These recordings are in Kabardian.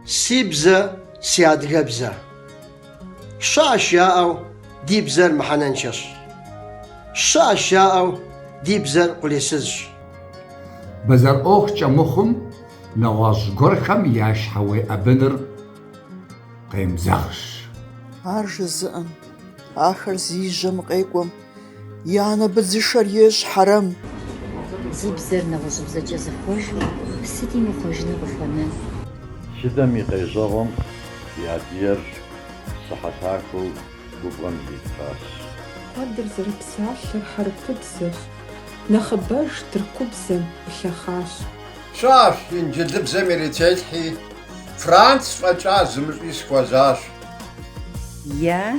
Си бзэ, си адыгэбзэ. Щыӏэщ яӏэу ди бзэр мыхьэнэншэщ. Щыӏэщ яӏэу ди бзэр къулейсызщ. Бэзэр ӏуэхукӏэ мыхъум, нэгъуэщӏ гуэрхэм я щхьэ уеӏэбыныр къемызэгъщ. Ар жызыӏэм, ахэр зи жьэм къекӏуэм. И анэ быдзышэр ещӏ хьэрэм. Зи бзэр нэгъуэщӏыбзэкӏэ зыхъуэжу, сыт имыхъуэжыну къыхуэнэн. Тхыдэм и къежьэгъуэм и адыйэр сыхьэтахуэу губгъуэм зитхъащ. Куэдыр зэрыпсалъэр хьэрыпыбзэщ, нэхъыбэж тыркубзэм илъэхъащ. Щыӏэщ, инджылыбзэм ирителъхьи, франц фӏэкӏа зымыщӏи сыхуэзащ. Я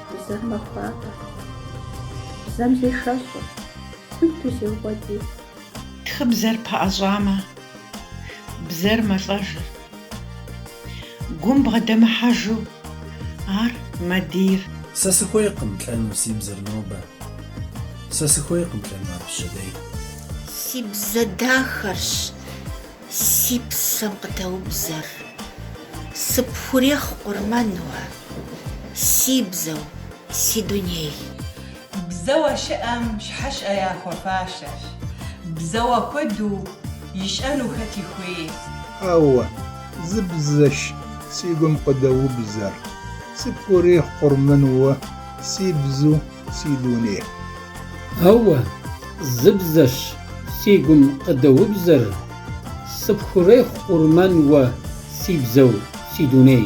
Бзэр махуапэ. Бзэм зешэщӏ. Хуиту зеукъуэдий. Тхыбзэр пэӏэщӏамэ. Бзэр мэлӏэжыр. Гум бгъэдэмыхьэжу. Ар мэдийр. Сэ сыхуейкъым лӏэну си бзэр нобэ. Сэ сыхуейкъым лӏэну ар пщэдей. Си бзэ дахэрщ. Си псэм къыдэубзэр, сыпхурехъу къурмэн уэ, си бзэу, си дуней. Бзэуэ щыӏэм щхьэщэ яхуэфащэщ. Бзэуэ куэду ищӏэну хэти хуей. Ауэ, зы бзэщ си гум къыдэубзэр, сыпхурехъу къурмэн уэ, си бзэу, си дуней. Ауэ, зы бзэщ си гум къыдэубзэр, Сыпхурехъу къурмэн уэ си бзэу си дуней.